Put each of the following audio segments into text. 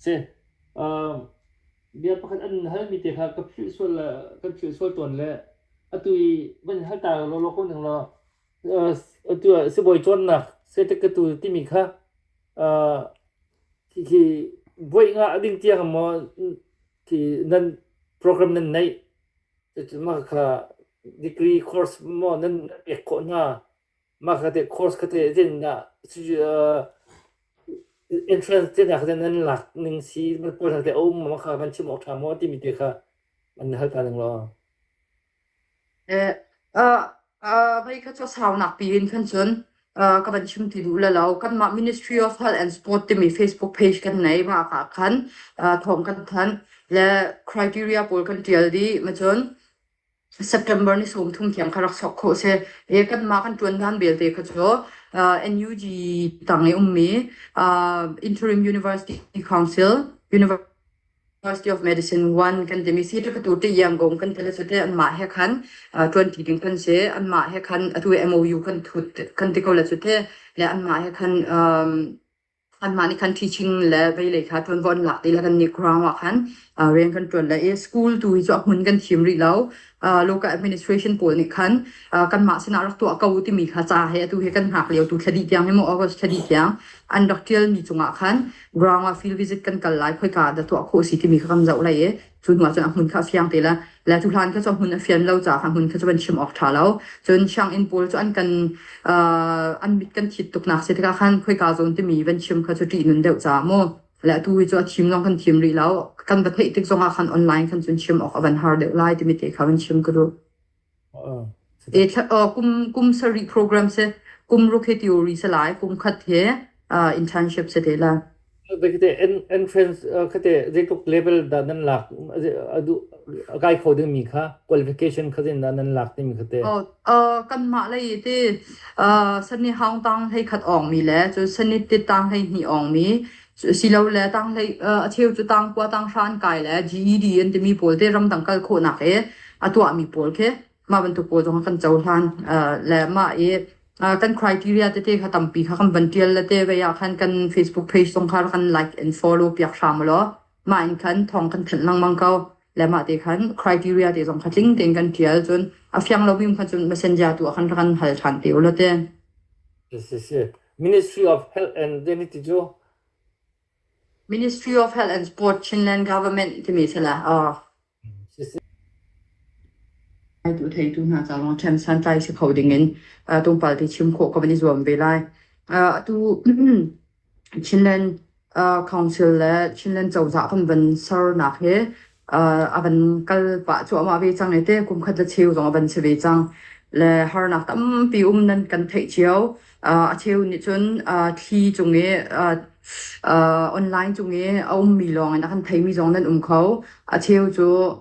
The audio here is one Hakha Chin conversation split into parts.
Si, um, bia pakhat an halmi te kha ka philh sual le kan philh sual tawn le atu i van hal ta lawlaw ko ning law uh, atu ah sibawi cawnnak seitek ka tu timi kha uh, khi, khi buai nga ding tiang maw khi nan program nan neih Cucu mah kha degree course maw nan pek khawh hna. Mah kha te course kha te din ah entrance te nak kha te nan lak ning si man pawl kha te um mah kha van chim awk ṭha maw timi te kha van hal ta ning law. Ee, a Uh, vei kha cu saunak piin kan cun uh, ka van chim ti duh la lo kanmah Ministry of Health and Sport timi Facebook page kan nei ma ka khan uh, thawng kan than le criteria pawl kan tial di ma cun September ni som thum thiam kha rak sok kho se e kan ma kan tuan dan belte kha cho uh, NUG tang e ummi uh, interim university council university University of Medicine 1 kan timi si tu tu ti yam gong kan tele sote an mah he khan twenty ding kan se an mah he khan atu MOU kan thut kan ti ko la sote le an mah he khan an mah ni khan teaching le bei le kha ton von lak ti la kan ni ground wa khan reng kan ton le e school tu hi cho mun kan thim ri lo local administration pawl nih khan kanmah sinah rak tuah ko timi kha ca he atu he kan hngak lio tu thladi tiang ni maw august thladi tiang an rak tialmi cungah khan ground ah field visit kan kal lai khoika dah tuah khawh si timi kha kan zoh lai i cu hnu ah cun a hmun kha fiang te la la tu hlan kha cu hmun a fian lo ca kha hmun kha cu an chim awk tha lo cun siang inn pawl cu an kan an mit kan thit tuk nak se tikah khan khoika zon timi van chim kha cu tih nun deuh ca mu le atu hi cu a thim zong kan thim rih lo kan va theih tik zongah khan online khan cun chim awk a van har deuh lai timi te kha kan chim ka duh e kum kum sari program se kum ruk he theory se lai kum khat he internship se te la kate entrance kate jekop level da nan lak adu kai kho ding mi kha qualification kha din da nan lak timi kate Uh, kanmah lei i ti uh, sani haung tang hlei khat ongmi le cu sani ti tang hlei hni ongmi cu- silole tang hlei uh, a cheu cu tang kua tang hran kai le GED an timi pawl te ramdang kal khawhnak i a tuahmi pawl khi mah bantuk pawl zong kan cohlan uh, le mah i uh, kan criteria tete kha tampi kha kan van tial le te ve ah khan kan Facebook page zong kha kan like and follow piak hram law mah in khan thawng kan thanh lengmang ko le mah te khan criteria te zong kha tling tein kan tial cun a fiang lo mi kha cun messenger tu ah khan kan hal than te ula te si si Ministry of Health and Dignity cu Ministry of Health and Sport Chinland Government timi sila uh Ngaitu theitu hna ca lawng ṭhen santlai si kho dingin tungpal ti chim khawh kha kan i zuam ve lai. Atu Chinland Council le Chinland cozah kan van sernak hi a van kal pah cuahmah ve cang i te kumkhat le cheu zong a van si ve cang. Le harnak tampi um nan kan theih cio. A cheu nih cun thli cung i online cung i a ummi lawng in a kan theimi zong nan um kho. A cheu cu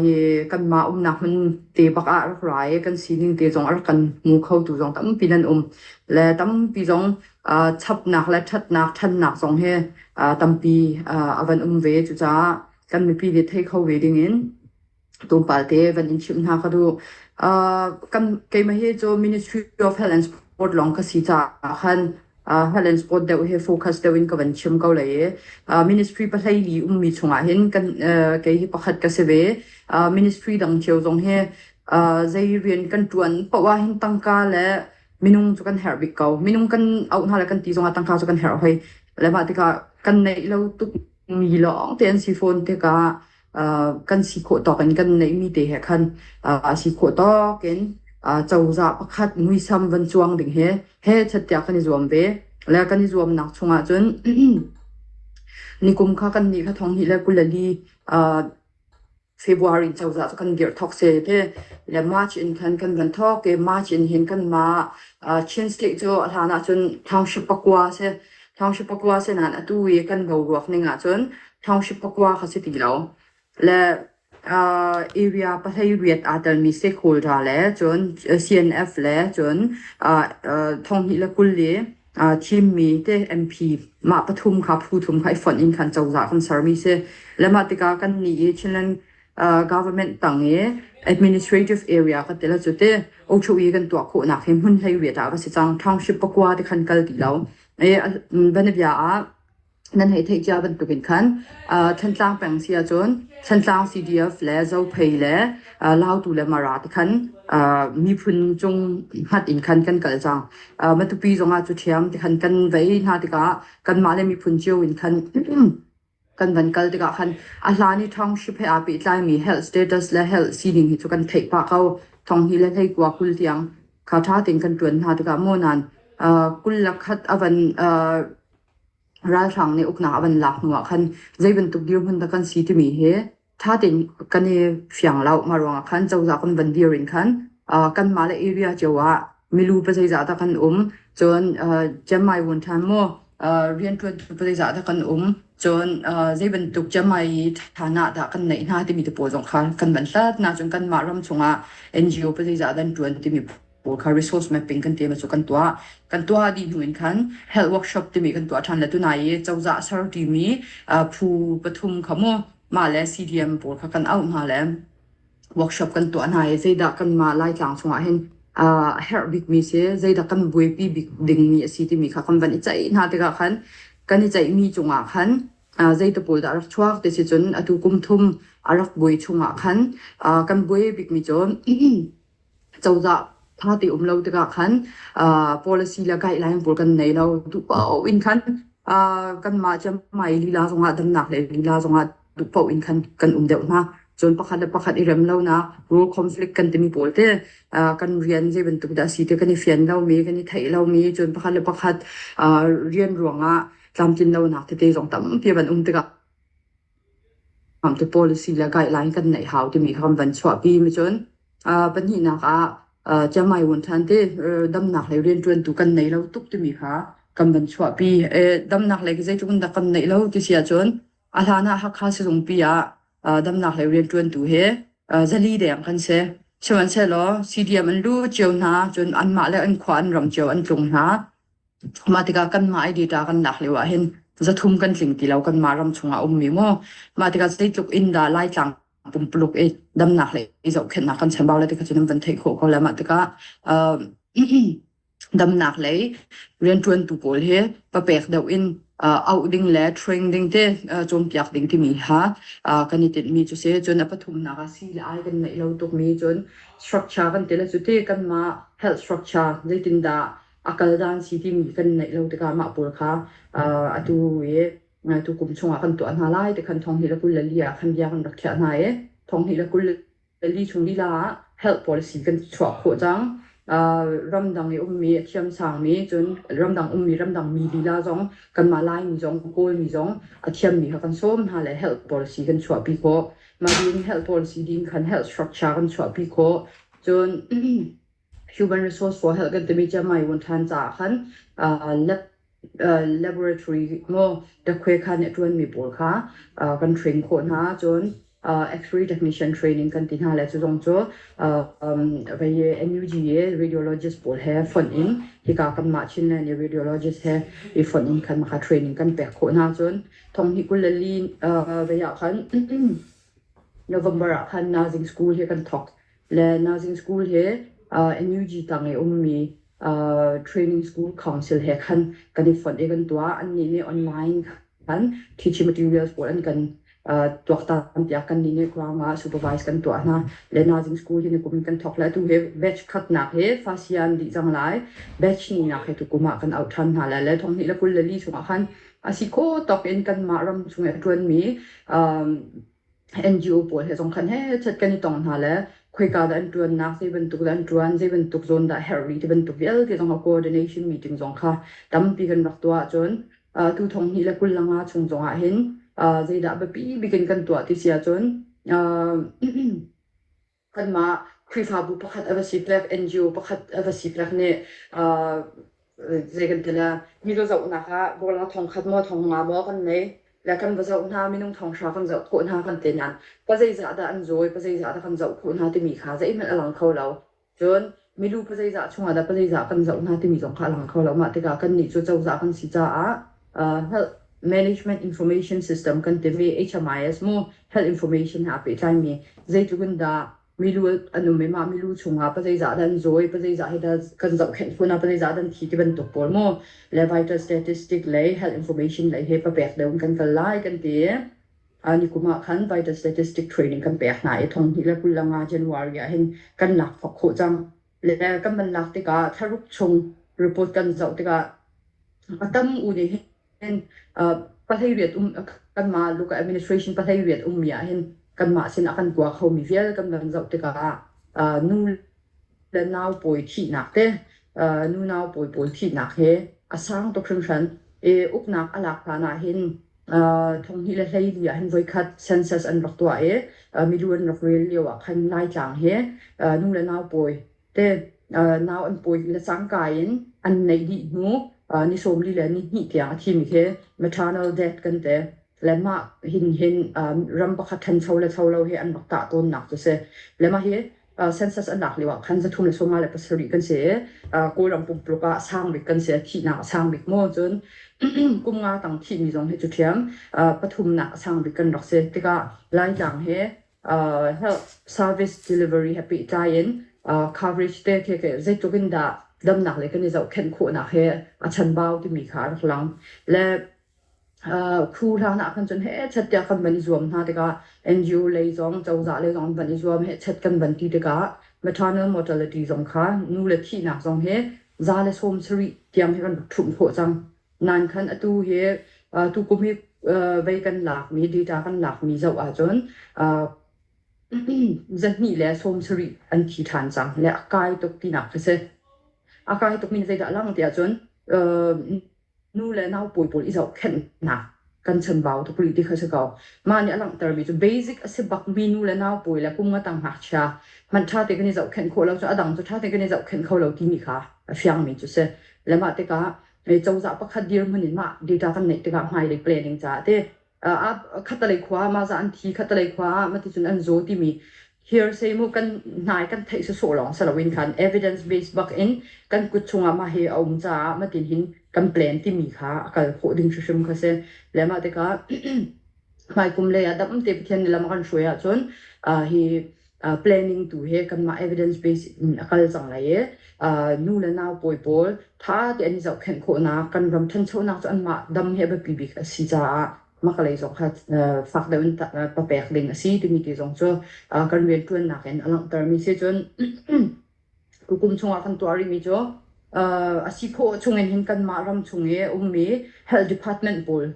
hi kanmah umnak hmun te bak ah rak ra i kan sining te zong a rak kan hmu khotu zong tampi nan um. Le tampi zong chapnak le ṭhatnak, ṭhannak zong hi tampi a van um ve. Cucaah kan mipi nih thei kho ve ding in atu palte van in chimh hna ka duh. Uh, kan keimah hi cu Ministry of Health and Sport long ka si caah khan uh, health and sport deuh hi focus deuh in ka van chim ko le uh, ministry pahlei li ummi chungah hin kan uh, kei hi pakhat ka si ve uh, ministry dang cio zong hi uh, zei rian kan tuan pawa hin tangka le minung cu kan herh bik ko minung kan au hna le kan ti zongah tangka cu kan herh hoi le ma tikah kan neih lo tuk mi lawng te an si fawn tikah kan si khawh tawk in kan neihmi te he khan a si khawh tawk in cozah pakhat muisam van cuang ding he he chatte kan i zuam ve le kan i zuam nak chung ah cun nikum kha kan ni la thong hi le kulali February cozah cu kan dir thok se te le March in khan kan van thok ke March in hin kan ma Chin State cu a hlan ah cun township pakua se Ṭhaungsi pakua sinan atu i kan boruak ning ahcun ṭhaungsi pakua kha si ti lo. Le uh, area pahlei riat aa telmi stakeholder le cun CNF le cun uh, uh, thonghnih le kul i uh, thimmi te MP mah pathum kha phu thum kha i fonh in khan cozah kan sermi si. Le mah tikah kan nih i Chinland government tang i administrative area ka ti la cu te ocho i kan tuah khawh nak hi hmun hlei riat ah ka si cang township pakua te khan kal ti lo e banabia ah nan hei thei chia bantuk in khan thantlang peng sia cun thantlang CDF le zo phei le lautu le mara te khan miphun chung hat in khan kan kal cang matupi zongah cu thiam te khan kan vei hna tikah kan mah le miphun cio in khan kan van kal tikah khan a hlan i thong hrip he aa pehtlaimi health status le health sining hi cu kan theih pah ko. Thong hi le hleikua kul tiang kha ṭha tein kan ṭuan hna tikah maw nan uh, kul le khat a van uh, ralhrang nih uknak a van lak hnuah khan zei bantuk dirhmun dah kan si timi hi Ṭha tein kan i fiang lo. Mah ruangah khan cozah kan van dir in khan, ah, kanmah le area cio ah milu pa zeizah dah kan um, cun, ah, ciammai vuan ṭhan maw, ah, rianṭuan tu pa zeizah dah kan um, cun, ah, zei bantuk ciammai ṭhanah dah kan neih hna timi te pawl zong kha kan van hlat hna. Cun kanmah ram chungah NGO pa zeizah dah an ṭuan timi pawl kha resource mapping kan tiami cu kan tuah kan tuah dih hnu in khan health workshop timi kan tuah ṭhan le tunai i cozah ser ṭimi phu pathum kha mu mah le CDM pawl kha kan auh hna le workshop kan tuah hna i zeidah kan mah laitlang chungah hin herh bikmi si zeidah kan buaipi bik dingmi a si timi kha kan van i ceih hna tikah khan kan i ceihmi cungah khan zeita pawl dah rak chuak ti si cun atu kum thum a rak buai chungah khan kan buai bikmi cu cozah thate um lo tikah khan uh, policy le guideline pawl kan nei lo duh paoh in khan uh, kanmah ciamai lila zongah damnak le lila zongah duh paoh in khan kan um deuh hna cun pakhat le pakhat i rem lo na rule conflict kan timi pawl te uh, kan rian zei bantuk dah si te kan i fian lomi kan i theih lomi cun pakhat le pakhat uh, rian ruangah tlamtlin lo nak tete zong tampi ban um tikah Kamtu policy le guideline kan neih hau timi kha kan van chuahpi mi cun uh, pahnihnak ah uh, Chiamai Wun Than te uh, damnak lei riantuantu kan nei lo tuk timi kha kan van chuahpi. E, damnak lei zeitluk in dah kan neih lo ti si ahcun a hlan ah Hakha sizungpi ah uh, damnak lei riantuantu he uh, zali deng kan si. Sihmanhsehlaw CDM an lu cio hna cun anmah le an khua an ram cio an tlung hna. Mah tikah kanmah i data kan lak lio ahhin zathum kan tling ti lo. Kanmah ram chungah a ummi maw. Mah tikah zeitluk in dah Laitlang pumpuluk i damnak le i zohkhenhnak kan chambau le tikha cun an van theih khawh ko le mah tikah uh, damnak lei riantuantu pawl hi papek deuh in uh, auh ding le train ding te uh, cawnpiak ding timi ha uh, kan i tinhmi cu si cun a pathumnak ah si le ai kan neih lo tukmi cun structure kan tila cu ti kanmah health structure zeitindah a kal dan si timi kan neih lo tikah mah pawl kha uh, atu i uh, tu kum chungah kan tuah hna lai ti khan thong hnih le kul le li ah khan bia kan rak khiah hna i thong hnih le kul le li chung lila ah health policy kan chuah khawh cang uh, ramdang i ummi thiamsang mi cun ramdang ummi ramdang mi lila zong kanmah laimi zong kawlmi zong a thiammi kha kan sawm hna le health policy kan chuahpi khawh mah ding health policy ding khan health structure kan chuahpi khawh cun human resource for health kan timi cu mai wun than caah khan uh, lab uh, laboratory mo dakwe kha ne tuan mi pawl kha uh, kan train kho hna cun uh, X-ray technician training kan ti hna le cu zong cu uh, um, vai NUGA radiologist pawl he fon in hi ka kan mah chin le ni radiologist he i fon in khan maka training kan pek kho hna cun thong hi kulali uh, vai ah khan November ah khan Nazing school hi kan thok le Nazing School he uh, NUG tang i ummi uh, training school council he khan kan i fonh i kan tua annih nih online khan teaching materials pawl an kan uh, tuaktan tiah kan nih kurang ah supervise kan tuah hna le Nazing School hi nikum in kan thok lai tu he batch khatnak he fasian di jang lai batch ni nak he tu kuma kan out than hna lai le thong ni la kul le li chungah khan asi kho tok in kan mah ram chungah tuan mi um, NGO pawl he zong khan hetchet kan i tong hna le khoika dah an ṭuannak zei bantuk dah an ṭuan, zei bantuk zawn dah herh rih ti bantuk vialte zong a coordination meeting zong kha tampi kan rak tuah ahcun uh, tu thong hnih le kul le nga chung zong ahhin uh, zeidah biapi bikin kan tuah ti si ahcun uh, kanmah Khrihfabu pakhat a va si pek, NGO pakhat a va si pek nih uh, zei kan tila mi va zohnak ah borlang thongkhat maw thong nga maw kan nei le kan va zoh hna minung thong hra kan zoh khawh hna kan te nan pa zeizah dah an zawi pa zeizah dah kan zoh khawh hna timi kha zeihmanh a lang kho lo cun milu pazeizah chungah dah pazeizah kan zoh hna timi zong kha a lang kho lo. Mah tikah kannih cu cozah kan si caah uh, health management information system kan timi HMIS mu health information he aa pehtlaimi zeitluk in dah milu an um i mah milu chungah pazeizah dan zawi pazeizah he dah kan zohkhenh khun a pazeizah dan thi ti bantuk pawl mu le vital statistic le health information le he papek deuh in kan kal lai kan ti Ah nikum ah khan vital statistic training kan pek hna i thonghnih le kul le nga January ah hin kan lak thok khawh cang. Le kan man lak tikah tharuk chung report kan zoh tikah a tam u nih hin pathairiat um kanmah local administration pathairiat um mi ah hin kanmah sin a kan kua kho mi vial kan van zoh tikah nu le nau pawi thihnak te, uh, nu nau pawi pawl thihnak he a sang tuk hringhran. I uknak a lak hlan ah hin uh, thonghni le hleili ah hin voikhat census an rak tuah i uh, milu an rak rel lio ah khan Laitlang he uh, nu le nau pawi te uh, nau an pawi le cangka in an neih dih hnu uh, ni sawmli le ni hnih tiang a thimi he maternal death kan te le mah hin hin um, ram pakhat ṭhancho le cho lo he an rak tah tawnnak cu si. Le mah hi census an lak lio ah khan zathum le sawmnga le pasarih kan si i kawlram pumpuluk ah sang bik kan si thihnak a sang bik maw cun kum nga tang thihmi zong hi cu thiam pathumnak a sang bik kan rak si tikah laitlang he service delivery he pehtlai in coverage te the ke zeitluk in dah damnak le kan i zohkhenh khawhnak he a chanbau timi kha a rak lang le Khu hlan ah khan cun hechet tiah kan van i zuam hna tikah NGO lei zong, cozah lei zong an van i zuam. Hechet kan van ti tikah maternal mortality zong kha nu le thihnak zong hi za le sawm sarih tiang hi kan rak ṭhumh khawh cang. Nankhan atu hi tukum hi vei kan lakmi, data kan lakmi zoh ahcun zahnih le sawm sarih an thi ṭhan cang le a kai tuk tinak a si. A kai tukmi zeidah a lang ti ahcun Nu le nau pawi pawl i zohkhenhnak kan chanbau tuk rih ti kha si ko. Mah nih a langhtermi cu basic a si bakmi nu le nau pawi le kum ngatang ngakchia hmanh ṭha te kan i zohkhenh khawh lo cu a dang cu ṭha te kan i zohkhenh kho lo timi kha a fiangmi cu si. Le mah tikah cozah pakhat dirhmun in mah data kan neih tikah hmailei planning caah te Ah khatalei khua mahza an thi khatalei khua ah maticun an zaw timi hearsay mu kan nai kan theih se so long saloin khan evidence base bak in kan kut chungah mah hi a um caah matin hin kan plan timi kha akal kho ding hrim kha se le mah tikah mai kum le ya dam te pathian ni lama kan shui ahcun hi uh, planning tu he kanmah evidence base in a kal cang lai i uh, nu le nau pawi pawl tha tein i zohkhenh khawhnak kan ram thanchonak cu anmah dam he biapi bik a si caah makalei zong kha uh, fak deuh in ta- uh, papek ding a si timi ti zong cu uh, kan riantuannak in a langhtermi si cun tukum chungah kan tuah rihmi cu uh, a si khawh chungin hin kanmah ram chung i ummi health department pawl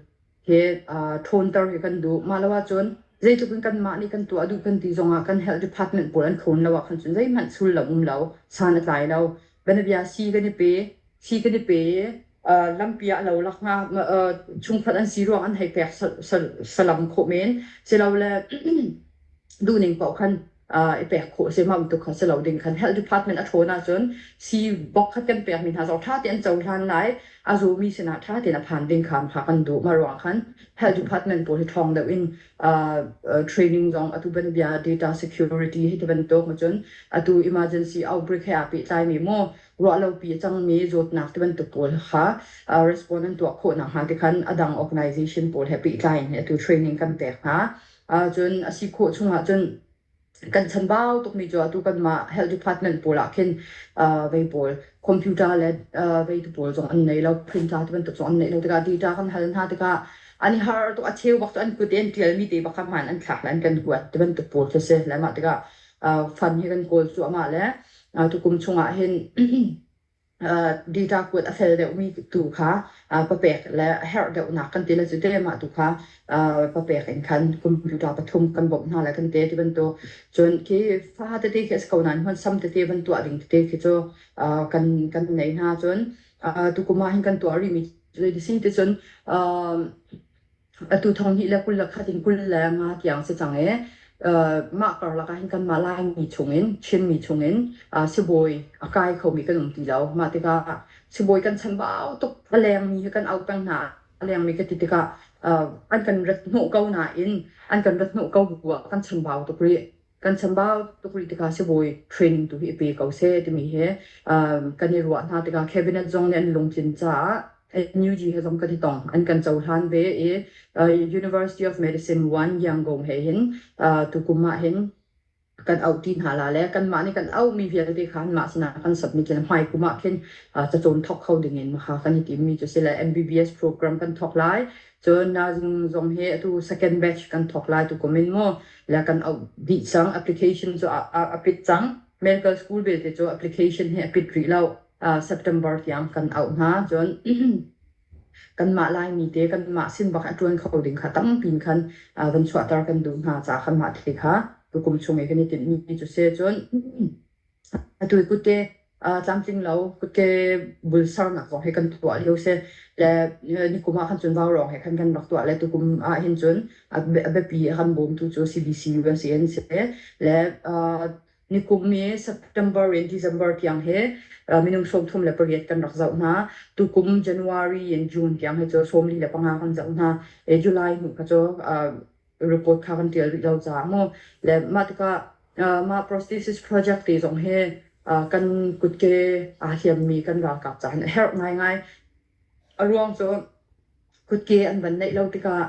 hi uh, ṭhawnter hi kan duh. Mah lo ahcun zeitluk in kanmah nih kan tuah duh kan ti zongah kan health department pawl an thawn lo ahkhan cun zeihmanh sul lo um lo, san a tlai lo. Benabia si kan i pe, si kan i pe i, uh, lampi ah lo lak nga, uh, chungkhat an si ruang an hei pek salam khawh men. Silole, duhning paoh khan i pek khawh a si mah bantuk kha si lo ding kan health department a ṭhawn ahcun sii bok kha kan pekmi hna zong ṭha tein cohlan lai a zumi sinah ṭha tein a phan ding kham kha kan duh mah ruang khan health department pawl hi ṭhawng deuh in training zong atu ban bia data security hi ti bantuk macun atu emergency outbreak he aa pehtlaimi maw ruahlopi a cangmi zawtnak ti bantuk pawl kha respond an tuah khawh nakhnga ti khan a dang organization pawl he pehtlai in atu training kan pek hna Ahcun a si khawh chung ahcun kan chambau tukmi cu atu kanmah health department pawl ah khin uh, vei pawl computer le uh, vei tu pawl zong an nei lo printer ti bantuk zong an nei lo tikah data kan hal hna tikah an i har to a cheu bak cu an kut i an tialmi te bak man an thlak le an kan kuat ti bantuk pawl khi si le mah tikah uh, fund hi kan kawl cu amah le uh, tukum chung ah hin data kuat a fel deuhmi tu kha papek le a herh deuhnak kan ti le cu te mah tu kha papek in khan computer pathum kan bawmh hna le kan te ti bantuk cun khi fa tete khi a si ko nain hmunsam tete van tuah ding tete khi cu kan kan nei hna cun tu kuma hin kan tuah rihmi cu si ti cun Atu thong hi le kul le khat in kul le nga tiang si cang i mah karlak ahhin kanmah Laimi chungin Chinmi chungin sibawi a kai khomi kan um ti lo. Mah tikah sibawi kan chambau tuk a lengmi hi kan auh peng hna a lengmi ka ti tikah an kan rat hnawh ko nain an kan rat hnawh ko bu ah kan chambau tuk rih. Kan chambau tuk rih tikah sibawi training tu hi i pe ko seh timi hi kan i ruah hna tikah cabinet zong nih an lungtlin caah NUG he zong kan i tong an kan cohlan ve i University of Medicine 1 Yangon he hin tukum ah hin kan auhti hna la le kanmah nih kan auhmi vialte kha anmah sinah kan submit i hmaikum ah khin cacawn thawk kho ding in maha kan i timmi cu si le MBBS program kan thawk lai Cun nahzung zong hi atu second batch kan thawk lai tu kumin mu le kan auh dih cang application cu a, a, a pit cang medical school belte cu application hi a pit rih lo uh, September tiang kan auh hna cun kanmah laimi te kanmah sin bak a tuan kho ding kha tampi in khan uh, van chuahter kan duh hna ca kanmah te kha tukum chung i kan i tinhmi cu se cun Atu hi kut ke aa tlamtling lo. Kut ke bul sarnak zong hi kan tuah lio si. Le nikum ah khan cun vaurawng he khan kan rak tuah le tukum ah hin cun a bia- a biapi a kan bawmtu cu CBC US an si. Le aa nikum i September in December tiang hi aa minung sawmthum le pariat kan rak zoh hna. Tukum January and June tiang hi cu sawmli le panga kan zoh hna. E, July hnu kha cu aa report kha kan tial rih lo caah mu le mah tikah uh, mah prosthesis project te zong hi uh, kan kutke aa hiammi kan ralkap caan a herh ngaingai a ruang cu kutke an van neih lo tikah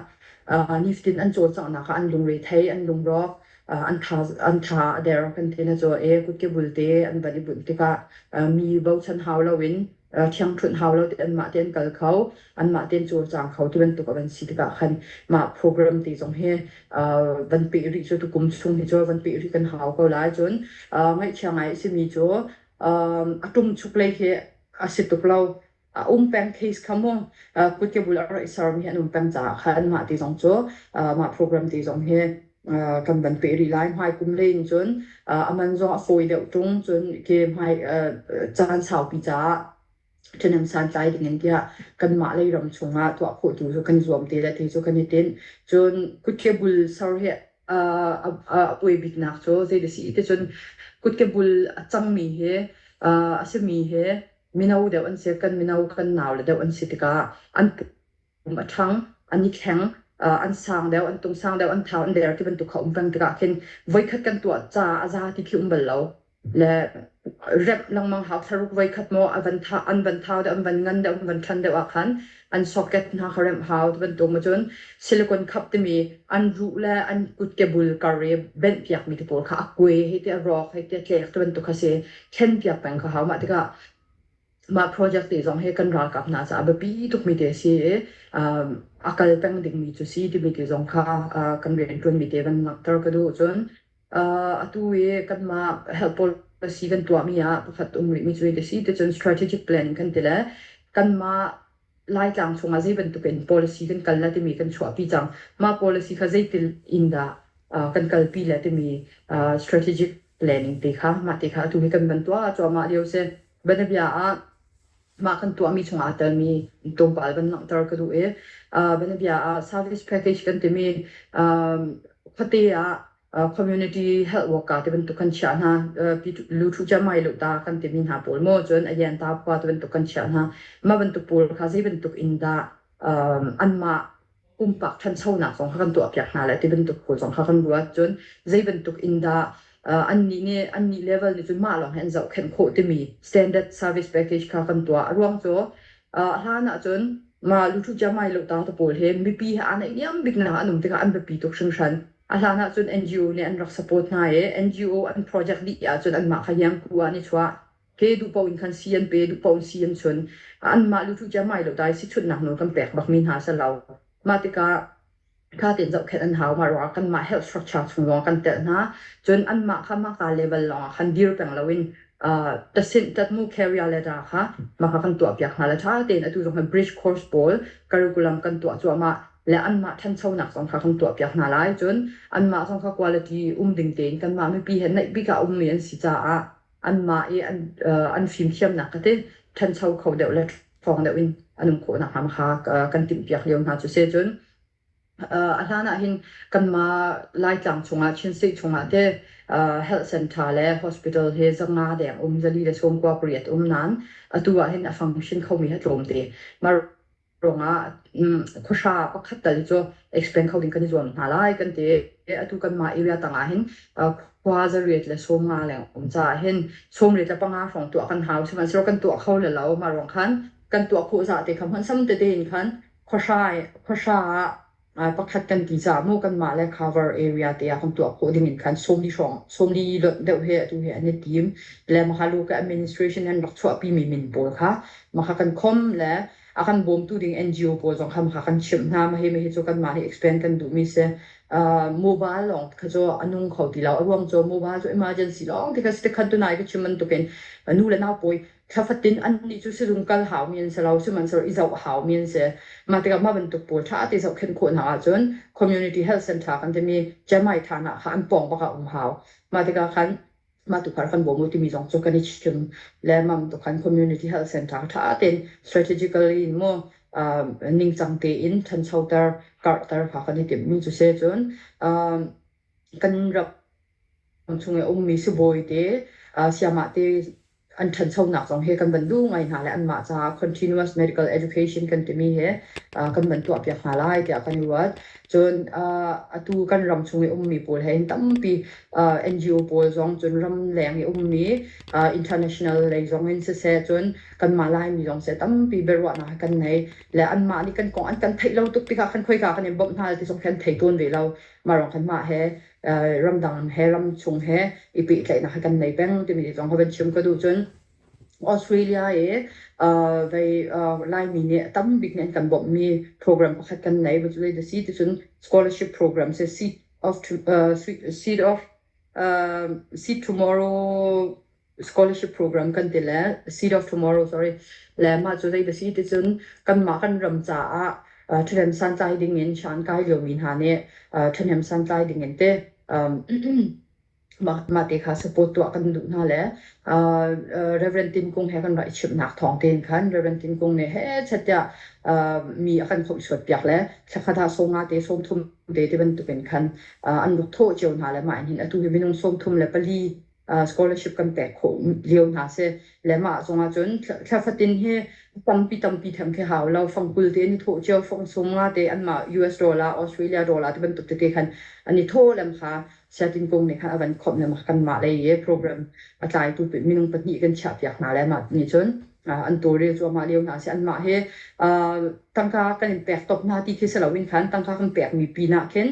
uh, niftin an cawlcanghnak ah an lungre thei an lungrawk uh, an tha an tha a der kan thena cu e kutke bulte an van i bunh tikah uh, mi bochan hau loin thiangṭhunh hau lo tein mah tein kal kho, anmah tein cawlcang kho ti bantuk a van si tikah khan mah program ti zong hi van peh rih cu tukum chung hi cu van peh rih kan hau ko lai. Cun ngaihchia ngai a simi cu a ṭum chuk lei hi a si tuk lo. A um peng case kha mu kut ke bul a ra i sermi an um peng caah khan mah ti zong cu mah program ti zong hi kan van peh rih lai hmai kum leng cun a man zong a fawi deuh tung cun ke hmai caan saupi caah ṭhenem santlai ding in tiah kanmah lei ram chungah tuah khawh tu cu kan zuam te le ti cu kan i tin cun kutke bul ser hi a puai biknak cu zei si te cun kutke bul a cangmi hi a simi hi mino deuh an si kan mino kan nau le deuh an si tikah an um a ṭhang, an i thleng, uh, an sang deuh, an tung sang deuh, an thau, an der ti bantuk kha um peng tikah khin voikhat kan tuah ca a za ti khi um bal lo. Le rep lengmang hau tharuk voikhat mo avan tha an van thau deuh an van ngan deuh an van than deuh ah khan an socket hna kha rem hau ti bantuk ma cun silicon khap timi an ru le an kut ke bul kar i ben piak mi te pawl kha a kue hei ti a rawk hei ti a tlek ti bantuk kha si thlen piak peng kha hau mah tikah Mah project te zong hi kan ralkap hna caah biapi tukmi te a si i um, a kal peng dingmi cu si timi te zong kha uh, kan riantuanmi te van langhter ka duh cun uh, atu i kanmah health policy kan tuahmi ah pakhat um rihmi cu te si ti cun strategic planning kan ti le kanmah Laitlang chungah zei bantukin policy kan kal le timi kan chuahpi cang. Mah policy kha zeitil in dah uh, kan kalpi le timi uh, strategic planning te kha mah te kha atu hi kan ban tuah cuahmah lio si banabia ah mah kan tuahmi chungah telmi tlawmpal ban langhter ka duh i uh, banabia ah service package kan timi um, khuate ah community health worker te bantuk kan chia hna lu thu cha mai lo ta kan timi hna pawl mo cun ayen ta khwa te bantuk kan chia hna ma bantuk pawl kha zei bantuk in dah an ma pumpak thanchonak zong kha kan tuah piak hna le ti bantuk pawl zong kha kan ruat cun zei bantuk in dah annih nih annih level nih cun mah lawng hin zoh khen khawh timi standard service package kha kan tuah a ruang cu hlan ah cun ma lu thu cha mai lo ta ta pawl he mipi he anai liam bik nak an um tikah an biapi tuk hringhran A hlan ah cun NGO nih an rak support hna i NGO an project dih ahcun anmah kha Yanku ah an i chuah. Ke duhpaoh in khan si an pe, duhpaoh in si an chun. Anmah lutu ciammai lo dai sichunhnak nawl kan pek bakmi hna si lo. Mah tikah kha tein zohkhenh an hau. Mah ruangah kanmah health structure chung zong kan telh hna. Cun anmah kha mahka level lawngah khan dir peng loin tatmu carrier letter kha mahka kan tuahpiak hna le ṭha tein atu zong khan bridge course pawl curriculum kan tuah cuahmah. le anmah ṭhanchonak zong kha kan tuahpiak hna lai. Cun anmah zong kha quality um ding tein kanmah mipi he naih bik ah a ummi an si caah anmah i an, an fimthiamnak ka ti ṭhancho kho deuh le ṭhawng deuh in an um khawh nakhnga kha kan timhpiak lio hna cu si. Cun a hlan ah hin kanmah Laitlang chungah Chinsei chungah te health center le hospital he zanga deng um zali le sawm kua pariat um nain atu ah hin a function khomi hi tlawmte. Ruangah khuahra pakhat tal cu expand kho ding kan i zuam hna lai kan ti. Atu kanmah area tangah hin khua zariat le sawmnga le um caah hin sawmriat le panga hrawng tuah kan hau sihmanhsehlaw kan tuah kho le lo. Mah ruang khan kan tuah khawh zah te kha hmanh sam tete in khan khuahra khuahra ah pakhat kan ti caah maw kanmah le cover area te ah kan tuah khawh ding in khan sawmli hrawng sawmli lonh deuh he atu he an i tim le maha lo ke administration an rak chuahpi mi min pawl kha maha kan khom le a kan bawmtu ding NGO pawl zong kha maha kan chimh hna ma hi ma hi cu kanmah hi expand kan duh mi si uh, mobile lawng kha cu a nung kho ti lo a ruang cu mobile cu emergency lawng ti ka si te khan tu nai ka chim bantukin nu le nau pawi thla fatin annih cu sizung kal haumi an si lo, sihmanhsehlaw i zoh haumi an si. Mah tikah mah bantuk pawl ṭha te zohkhenh khawh hna ahcun community health center kan timi Chiamai Thana kha an pawng bak ah um hau. Mah tikah khan mah tukhal kan bawm u timi zong cu kan i chim lengmang tu khan community health center ṭha tein strategically in maw um, ningcang tein ṭhanchoter, karhter kha kan i timhmi cu si cun um, kan rak Kan chung i a ummi sibawi te, sayamah te an ṭhanchonak zong hi kan van duh ngai hna le anmah caah continuous medical education kan timi hi kan van tuahpiak hna lai tiah kan i ruat. Cun atu kan ram chung i ummi pawl he hin tampi NGO pawl zong cun ramleng i ummi international lei zong in siseh cun kanmah Laimi zong seh tampi biaruahnak hi kan nei. Le anmah nih kan kong an kan theih lo tuk tikah khan khoika kan in bawmh hna ti zong khi an thei tawn ve lo. Mah lawng khan mah he ramdang he ramchung he i pehtlaihnak kan nei peng timi zong ka van chim ka duh cun Australia i uh, vai uh, Laimi nih tam bik nih an kan bawmhmi program pakhat kan nei cu dai si ti cun scholarship program se seed of uh, seed of uh, seed tomorrow scholarship program kan ti le Seed of Tomorrow sorry le mah cu zei da si ti cun kanmah kan ram caah uh, ṭhahnem santlai ding in shan kai liomi hna nih uh, ṭhahnem santlai ding in te um, mah mah te kha support tuah kan duh hna le uh, uh, Reverend Tim Kung he kan rai chim nak thong ten khan Reverend Tim Kung ne he chatia uh, mi a kan khom suat piak le thlakhatha songa te som thum te te bantukin khan uh, an ruk tho cheu hna le ma in hin atu hi minung som thum le pali scholarship kan pek khawh lio hna si le mah zongah cun thlafatin hi tampi tampi them khi hau lo fang kul te ni tho cio fong sung nga te an ma US dollar Australia dollar te bantuk te khan ani tho lem kha siatin kong ne khan avan khom lem kan ma lei e program atlai tu minung pahnih kan chia piak hna le ma ni cun an tu ri chu ma leo hna si an ma he tangka kan in pek top hna ti khi se lo in khan tangka kan pek mi pi na khin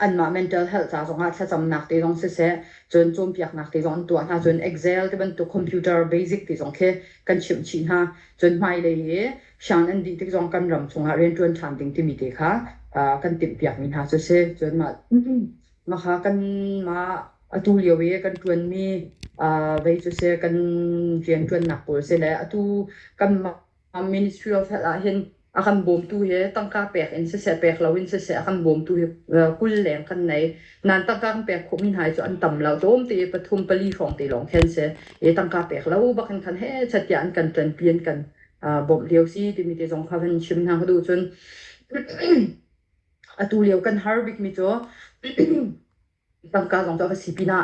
anmah mental health ca zongah thlacamnak te zong siseh cun cawnpiaknak te zong an tuah hna cun Excel tibantuk computer basic ti zong khi kan chimh chih hna cun hmailei i siang an dih tik zong kan ram chungah rianṭuan ṭhan ding timi te kha kan timhpiakmi hna cu si cun mah mah kan mah atu lio i kan ṭuanmi vei cu si kan rianṭuannak pawl si le atu kan mah Ministry of Health ah hin a kan bawmtu hi tangka pek in siseh pek lo in siseh a kan bawmtu hi kul leng kan nei. Nan tangka kan pek khawhmi hna hi cu an tam lo. Tlawm te pathum pali hrawng te lawng khen si. I tangka pek lo bak in khan he chatia an kan ṭanpi an kan bawmh lio si timi te zong kha kan chim hna ka duh cun. Atu lio kan har bikmi cu Tangka zong cu a va si pinah,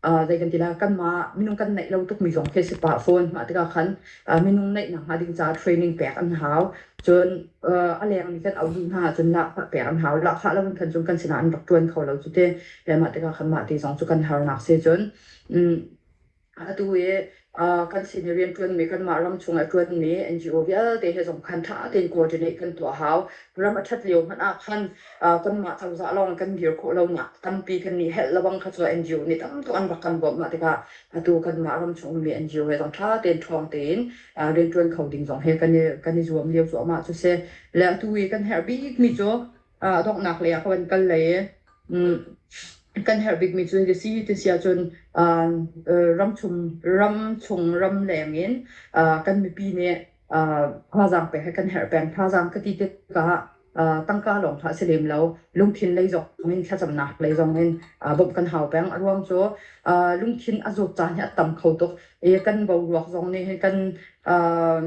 ah zei kan ti lai, kanmah minung kan neih lo tukmi zong khi a si pah fawn. Mah tikah khan, ah minung neih nakhnga ding caah training pek an hau. Cun, ah a lengmi kan auh duh hna ahcun lahkhah pek an hau. Lahkhah lo in khan cun kan sinah an rak ṭuan kho lo cu ti. Le mah tikah khan mah ti zong cu kan harnak si cun, um Atu i kan sin i rianṭuanmi, kanmah ram chungah i ṭuanmi NGO vialte he zong khan ṭha tein coordinate kan tuah a hau. Ram a ṭhat lio hmanh ah khan kanmah cozah lawng kan dir khawh lonak tampi kan i helh lebang kha cu NGO nih tam tuk an rak kan bawmh. Mah tikah atu kanmah ram chung ummi NGO he zong ṭha tein ṭhawng tein rianṭuan kho ding zong he kan i zuam lio cuahmah cu si. Le atu i kan herh bikmi cu ah donghnak lei ah kan kal lai i mm, kan herh bikmi cu ka si ti si ahcun ah, eh, ramchung ram chung ram leng in ah, kan mipi nih ah, thazaang pek he kan herh peng thazaang ka ti tikah ah, tangka lawng kha si lem lo lungthin lei zong in thlacamnak lei zong in ah, bawmh kan hau peng a ruang cu ah, lungthin a zawt caan hi a tam kho tuk i kan boruak zong nih hin kan ah,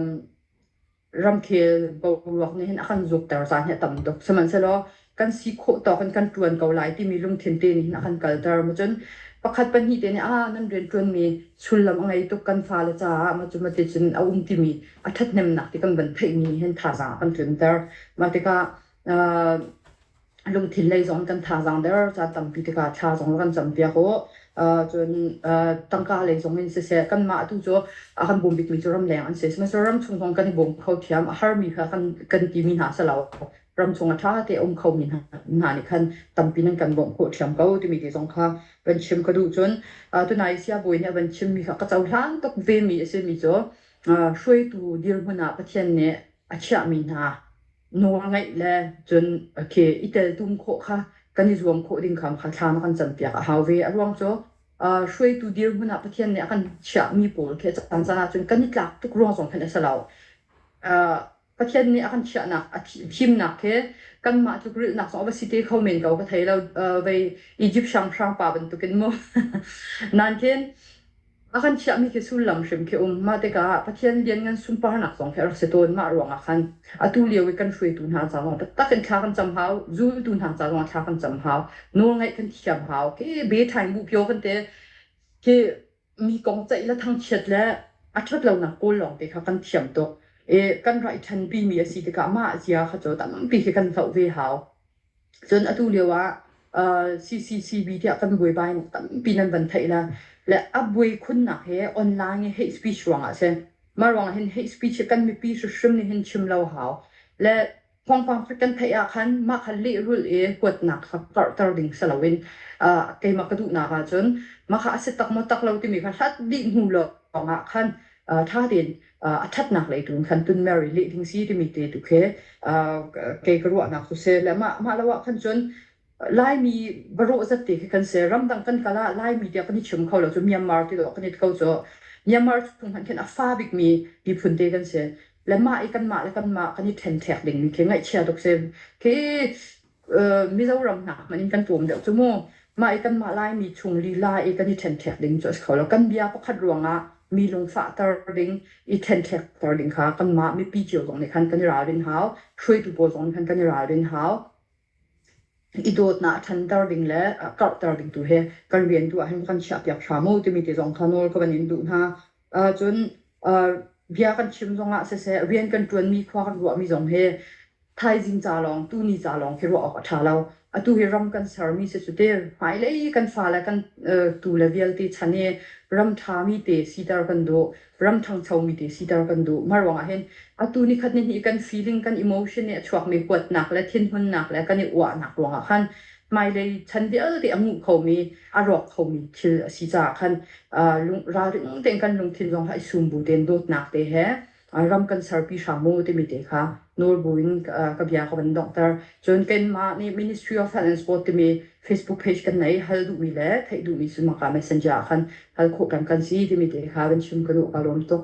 ramkhel boruak nih hin a kan zukter caan hi a tam tuk. Sihmanhsehlaw kan si khawh tawk in kan ṭuan ko lai timi lungthin te nih hin a kan kalter. Macun pakhat pahnih te nih ah nan rianṭuanmi sullam a ngei tuk kan fale caah macu mate cun a um timi a ṭhathnemnak ti kan van theihmi nih hin thazaang a kan tlunter. Mah tikah aa lungthin lei zong kan thazaang der ca tampi tikah thla zong kan campiak u. Uh, cun uh, tangka lei zong in siseh kanmah tu cu a kan bum bikmi cu ramleng an si sihmanhsehlaw ramchung zong kan i bawm kho thiam a harmi kha kan kan timi hna se lo ramchung a tha te um khomi hna hna nih khan tampi nan kan bawm kho thiam ko timi ti zong kha van chim ka duh cun uh, tuna i siabawi nih a van chimmi kha ka cohlan tuk vemi a simi cu uh, hruaitu dirhmun ah Pathian nih a chiahmi hna Nawlngaih le cun ke i teltum khawh kha kan i zuam khawh ding kha thlam a kan campiak a hau ve. A ruang cu uh, hruaitu dirhmun ah Pathian nih a kan chiahmi pawl khi a caan caan ahcun kan i tlak tuk ruang zong khan a si lo. Uh, Pathian nih a kan chiahnak, a thimnak he kanmah tluk rilhnak zong a va si te kho men ko ka thei lo. Uh, vei Egypt hranghrang pa bantukin mu. Nain A kan chiahmi khi sullam hrim khi um. Mah tikah ah Pathian lianngan sunparnak zong khi a rak si tawn. Mah ruangah khan atu lio i kan hruaitu hna ca zong taktak in thla kan cam hau. Zultu hna ca zongah thla kan cam hau. Nawlngaih kan thiam hau. Khi be thaing bu pio kan te khi mi kong ceih le thangchiat le a ṭhat lonak kawl lawng te kha kan thiam tuk. I kan rai ṭhanpi mi a si tikah mah zia kha cu tampi khi kan hloh ve hau. Cun atu lio ah CCCB tiah kan buaipa in tampi nan van theih le le a buai khunnak hi online i hate speech ruangah a si. Mah ruangah hin hate speech hi kan mipi hrimhrim nih hin chim lo hau. Le thawngpang kan theih ahkhan mah kha lehrulh i kuatnak kha karhter ding si loin keimah ka duhnak ahcun mah kha a si tak maw tak lo timi kha hlat dih hnu lawngah khan ṭha tein a ṭhatnak lei tu in khan tunmer i lih ding si timi te tu khi kei ka ruahnak cu si le mah mah lo ah khan cun Laimi barawh zat te khi kan se ramdang kan kala Laimi tiah kan i chim kho lo cu Myanmar ti lo kan it kho cu Myanmar chung khan khin a fa bikmi miphun te kan si le mah i kan mah le kan mah kan i ṭhen ṭhek ding mi khi ngaihchia tuk si khi Mizoram hna hmanh in kan tlawm deuh cu mu. Mah i kanmah Laimi chung lila i kan i ṭhenṭhek ding cu a si kho lo. Kan bia pakhat ruangah mi lungfahter ding, i ṭhenṭhekter ding kha kanmah mipi cio zong nih khan kan i ralrin hau. Hruaitu pawl zong nih khan kan i ralrin hau. I dawtnak a ṭhanter ding le a karhter ding tu hi kan rian tu ah hin kan chiahpiak hram u timi ti zong kha nawl ka van in duh hna. cun bia kan chim zongah siseh rian kan ṭuanmi khua kan ruahmi zong hi thaizing ca lawng tuni ca lawng khi ruah awk a ṭha lo atu hi ram kan sermi si cu ti hmailei kan fale kan tu le vialte chan i ram ṭhami te siter kan duh ram ṭhangchomi te siter kan duh mah ruangah hin atu ni khat ni hnih kan feeling kan emotion i a chuakmi kuatnak le thinhunnak le kan i uahnak ruangah khan hmailei chan vialte a nguh khomi, a rawk khomi thil a si caah khan ralring tein kan lungthin zong kha i sum bu tein dawtnak te he ram kan serpi hram mu timi te kha nawl buin ka bia ka van donghter. Cun keimah nih Ministry of Health and Sport timi Facebook page kan nei hal duhmi le theih duhmi cu maka messenger ah khan hal khawh peng kan si timi te kha van chim ka duh ka lawm tuk.